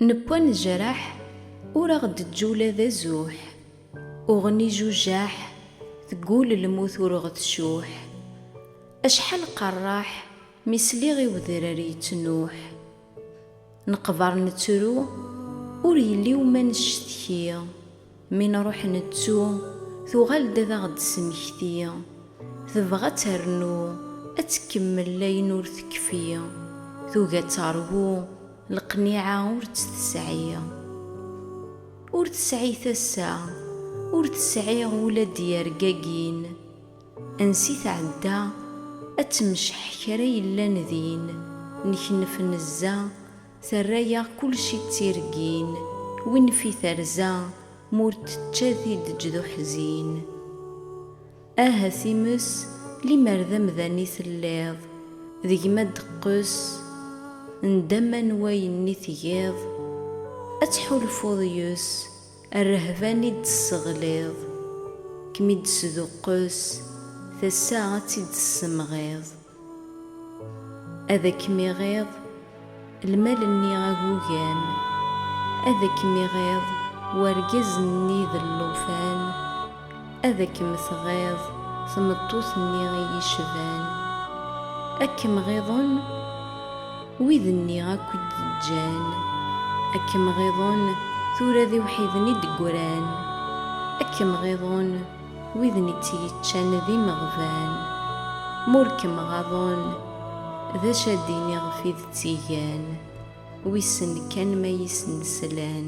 Newwa nejreḥ ur aɣ-d-teǧǧi ula d azuḥ, uɣen ijujaḥ teggul lmut ur ɣ-tcuḥ, acḥal qerraḥ mi sliɣ i wedrar yettnuḥ, neqber nettru ur yelli wuma necetki. Mi nruḥ nettu, tuɣal-d ad aɣ-d-tesmekti. Tebɣa ad ternu, ad tkemmel ayen ur tekfi. Tugi ad teṛwu, leqniɛa ur tt-tesɛi. Ur tesɛi tasa, ur tesɛi ula d irgagin. Ansi tɛedda, ad temceḥ kra yellan din, neknef nezza, Terra-yaɣ kulci d tireggin. Win fi terza m'ur tečča tideǧ d uḥzin. Ah a times limer d amdan i telliḍ, d gma ad d-teqqes ndama n wayen i tgiḍ, ad tḥulfuḍ yes. Rrehba-nni i d-tesseɣliḍ, kem-id-tesduqqes, tasa ad tt-id-tessemɣiḍ. Ad akem-iɣiḍ lmal-nni agugam, ad akem-iɣiḍ wergaz-nni d llufan. Ad kem-tɣiḍ tmeṭṭut-nni i yi-cban, ad kem-ɣiḍen wid-nni akk i d-ǧǧan, ad kem-ɣiḍen tura d iwḥiden i d-ggran, ad kem-ɣiḍen widen i tt-yeččan d imeɣban, ma ur kem-ɣaḍen d acu ad d-ini ɣef i d tt-igan, wissen kan ma i sen-slan.